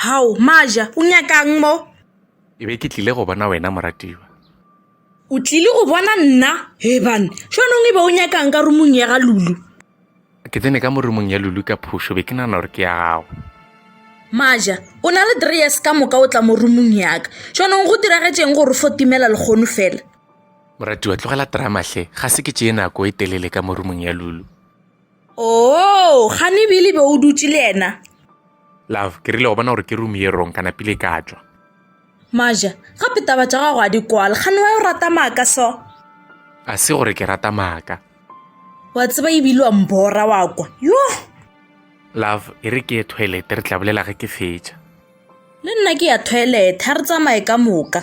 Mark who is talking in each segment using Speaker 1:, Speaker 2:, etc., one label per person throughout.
Speaker 1: Hao, Maja, o nyaka'ng mo? Ke be ke tlile
Speaker 2: go bona wena, moratiwa. O
Speaker 1: tlile go bona nna? Heban, xonong e be o nyaka'ng ka rumong ya ga Lulu? Ke tsene
Speaker 2: ka mo rumong ya Lulu ka phušo, be ke nana gore ke ya gago. Maja,
Speaker 1: o na le dreyes ka moka o tla mo rumong yaka. Xonong go diragetše'ng gore fo timela lekgono fela? Moratiwa,
Speaker 2: tlogela drama hle, ga se ke tšee nako e telele ka mo rumong ya Lulu. Oo,
Speaker 1: ga ne bile be o dutše le yena. Love, ke
Speaker 2: rile go bona gore ke room ye rong, ka napile ka tšwa. Maja,
Speaker 1: gape taba tša gago a di kwale, ga ne wa yo rata maaka so. A se
Speaker 2: gore ke rata maaka. Wa tseba
Speaker 1: ebile wa mbora wa kwa. Yo!
Speaker 2: Love, e re ke ye toilet, re tla bolela ge ke fetša. Le nna
Speaker 1: ke ya toilet, ha re tsamaye ka moka.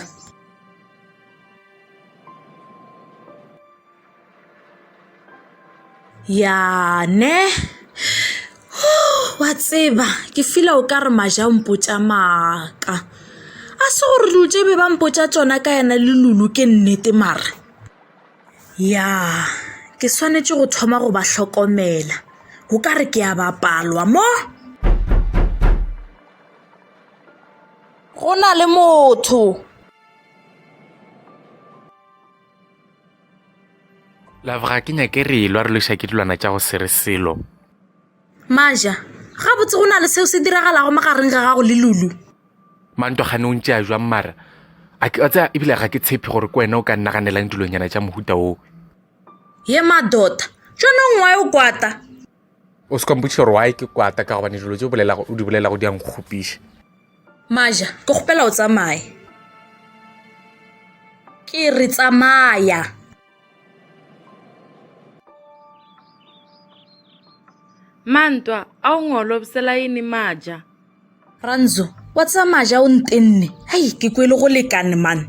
Speaker 1: ya ne wa tseba ke fila o ka re maja o mpotša maaka a se gore dilo tše be ba mpotša tsona ka yena le lulu ke nnete mara ya ke swanetše go thoma go ba hlokomela o ka re ke a bapalwa mo go na le motho
Speaker 2: Love ga ke nyake re elwa re loša ke dilwana tša go sere selo.
Speaker 1: Maja, gabotse go na le seo se diragalago magareng ga gago le Lulu. Manto
Speaker 2: gane o ntše a jwang mara. A ke tsa ebile ga ke tshepe gore ke wena o ka nnaganela ndilonyana tša mohuta o. Ye
Speaker 1: madota, tšone ngwae o kwata. O se
Speaker 2: ka mpotšiša gore why ke kwata ka gobane dilo tse o di bolelago di a nkgopiša. Maja,
Speaker 1: ke kgopela o tsamaye. Ke re tsamaya.
Speaker 3: Mantwa, a o ngolobsela yini Maja? Ranzo,
Speaker 1: wa tseba Maja o ntenne. Hei, ke kwele go lekane man.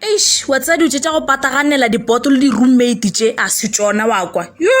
Speaker 3: eish
Speaker 1: wa tsaya dilo tse tša go pataganela dipoto le di-roommate tše a se tšona wa kwa yo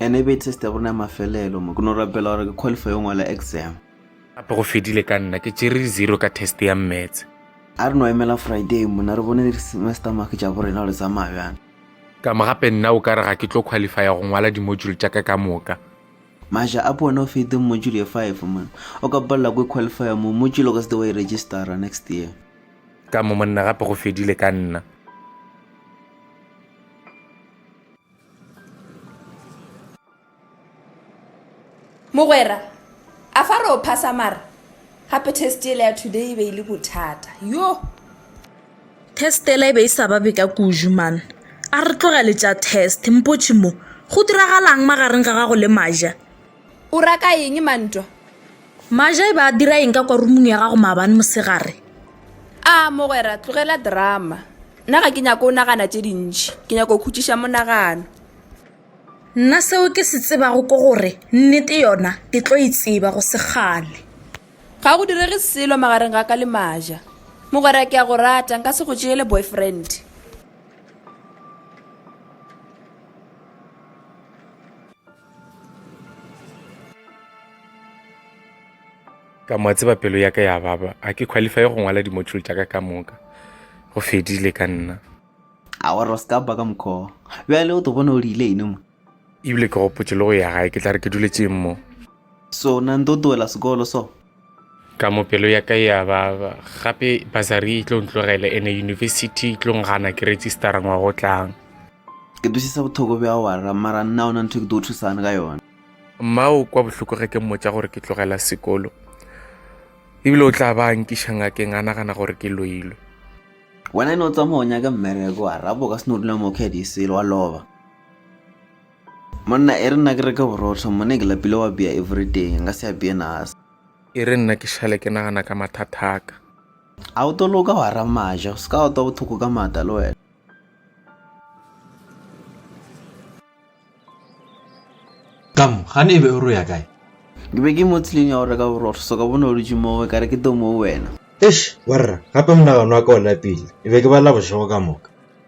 Speaker 2: And e be
Speaker 4: test ya borona ya mafelelo mo ke no rapela gore ke qualify yo ngwala exam. Gape go fedile
Speaker 2: ka nna ke tšere di zero ka test ya mmetse. A re no emela
Speaker 4: Friday mona re bone di semester mark tša borena gore tsamaya bjang. Ka mo gape
Speaker 2: nna o ka re ga ke tlo qualifya go ngwala di module tša ka ka moka. Maja a
Speaker 4: pone o feteng module ye five mona o ka palela ko qualifya mo module o ka se te wa e registera next year. Ka mo monna
Speaker 2: gape go fedile ka nna.
Speaker 5: mogwera a fa re o phasa mara gape test ele ya today e be e le bothata yo
Speaker 1: test ele e be e sa babe ka kuju man a re tlogele tša test mpotšhe mo go diragalang magareng ga gago le maja O ra ka
Speaker 5: eng ma ntwa? Maja
Speaker 1: e be a dira eng ka kwa rumung ya gago maabane mosegare? A,
Speaker 5: mogwera, tlogela drama. Nna ga ke nyako o nagana tše dintši. Ke nyako o khutšiša monagano.
Speaker 1: Nna seo ke se tsebago ko gore nnete yona ke tlo e tseba go sekgale. Ga go
Speaker 5: direge selo magareng ga ka le Maja. Mogwera, ke a go rata, nka se go tšeele boyfriend.
Speaker 2: ka mo tseba pelo ya ka ya baba a ke qualify go ngwala di-module tša ka ka moka go fedile ka nna a wa
Speaker 4: roskaba ka mokgoo bjale o to bona o rile ene mo ebile ke gopotse
Speaker 2: le go ya gae ke tla re ke duletšeng mo sona
Speaker 4: nto toela sekolo so Ka mo
Speaker 2: pelo ya ka ya ba gape basari e tlo ntlogele ene university e tlo ngana ke registera ngwaga o tlang. Ke twisisa
Speaker 4: bothoko bja wara mara nna ona ntho ke tlo thusane ka yona. Mma o kwa
Speaker 2: bohloko ge ke mmotša gore ke tlogela sekolo ebile o tla ba nkiša ngakeng a nagana gore ke loilwe. Wena e ne
Speaker 4: o tsamaya o nyake mmereko wara bo ka se no dula mo kgedi selo wa loba. Monna, E re nna ke reke borotho, mone ke lapile wa bea everyday, nka se a bee nasa. E re nna ke
Speaker 2: šale ke nagana ka mathathaka. A o to
Speaker 4: loka wa ra maja, o se ka wa twa bothoko ka mata le wena.
Speaker 6: Ka mo, gane e be o re o ya kae? Ke be ke mo
Speaker 4: tseleng ya go reka borotho, so ka bona o dutše moo, ka re ke tle moo wena. Eish, wa rra,
Speaker 6: gape monagano wa ka o lapile, ke be ke bala bošego ka moka.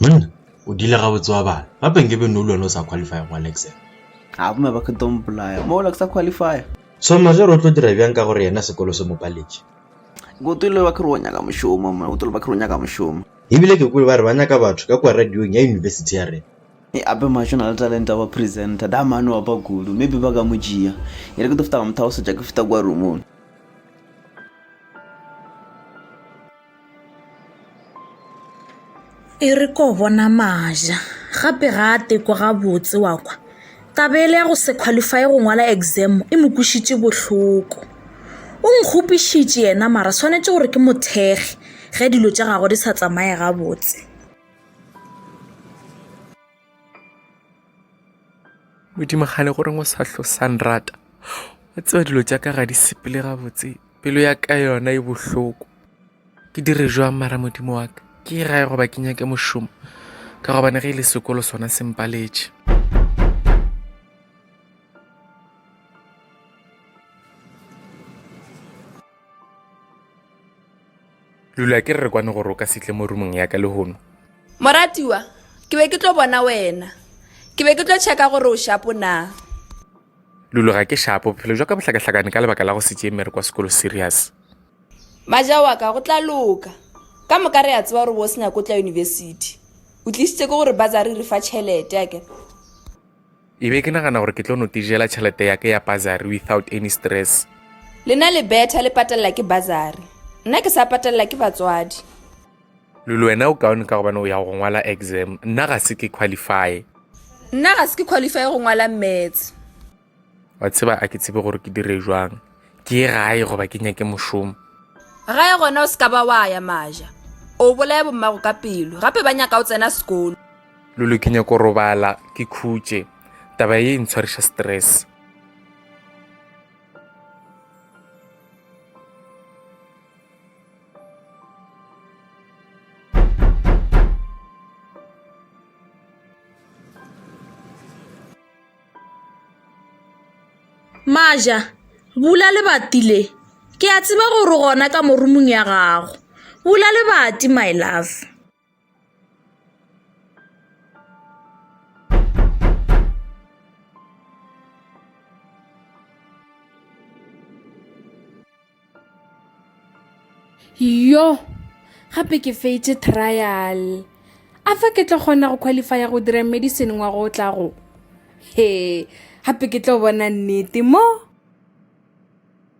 Speaker 4: Mn, o
Speaker 6: dile gabotse wa bana. Gape nke be nno le wena o sa qualify go Alexa. A bomme ba ke
Speaker 4: don't bolaya. Mo la ke sa qualify. So ma ge re o tlo
Speaker 6: dira bjang ka gore yena sekolo se mo paletše. Go tole
Speaker 4: ba ke re o nyaka mošomo mna. Go tole ba ke re o nyaka mošomo. E bile ke kwele ba re ba
Speaker 6: nyaka batho ka kua radiong ya university ya rena. E ape mašo na
Speaker 4: le talente ya go ba presenter. Da mane wa ba kudu. Maybe ba ka mo tšea. E re ke tlo feta ka mo thagosetša ke feta kua roomong.
Speaker 1: E re ko bona maja gape ga a teko gabotse wa kwa taba ele ya go se qualify go ngwala exam e mo kwešitše bohloko o nkgopišitše yena mara swanetše gore ke mothekge ge dilo tša gago di sa tsamaye gabotse
Speaker 2: modimo gane gore o sa hlo sa nrata wa tseba dilo tša ka ga di sepele gabotse pelo ya ka yona e bohloko ke dire jwang mara modimo wa ka ke e gae goba ke nyake mošomo ka gobane ge e le sekolo sona se mpaletše lula ke re re kwane gore o ka setle mo rumong yaka lehono moratiwa
Speaker 5: ke be ke tlo bona wena ke be ke tlo checka gore o shapo na
Speaker 2: lulo ga ke shapo bophelo jwa ka bohlakahlakane ka lebaka la go setse mere kwa sekolo serious maja
Speaker 5: wa ka go tla loka ka moka re ya tseba gore bo senyako tla university o tlisitse ke gore bazari re fa tšhelete ake
Speaker 2: E be ke nagana gore ke tlo no tijela tšhelete ya ke ya bazari without any stress. Lena le
Speaker 5: betha le patelela ke bazari. Nna ke sa patelela ke batswadi. Lulu,
Speaker 2: wena o kaone ka gobane o ya go ngwala exam. Nna ga se ke qualify. Nna ga se
Speaker 5: ke qualify go ngwala maths. Wa
Speaker 2: tseba a ke tsebe gore ke dire jwang. Ke ye gae goba ke nyake mošomo. Gae gona
Speaker 5: o se ka ba wa ya maja. O bolaya bommago ka pelo. Gape ba nyaka o tsena sekolo. Lulu, ke nyako
Speaker 2: robala ke khutše taba ye e ntshwariša stress.
Speaker 1: Maja, bula lebati le ke a tseba gore gona ka morumong ya gago bula lebati my love.
Speaker 3: yo gape ke feitše trial a fa ke tlo kgona go qualifya go dira medicine ngwa go tla go he gape ke tlo bona nnete mo